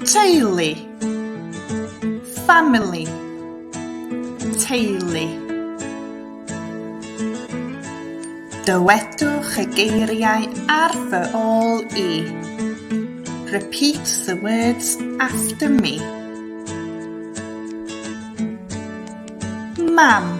Teulu Family Teulu Dywedwch y geiriau ar fy ôl i. Repeat the words after me. Mam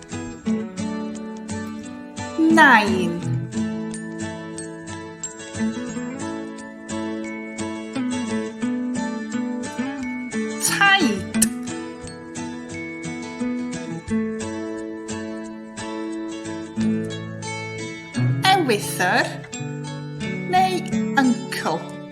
Nain. Taid. Ewythr neu uncle.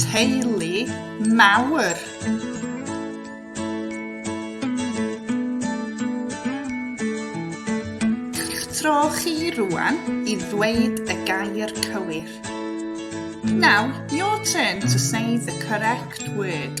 Teulu mawr. Tro chi rwan i ddweud y gair cywir. Now, your turn to say the correct word.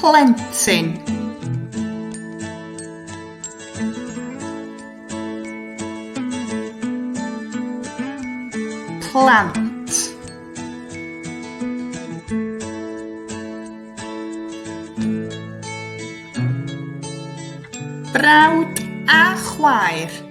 Plentyn Plant Brawd a chwaer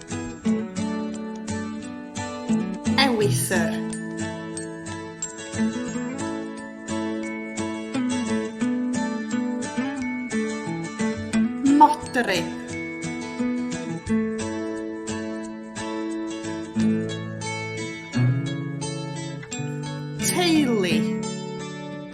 Ewythr. Modryb.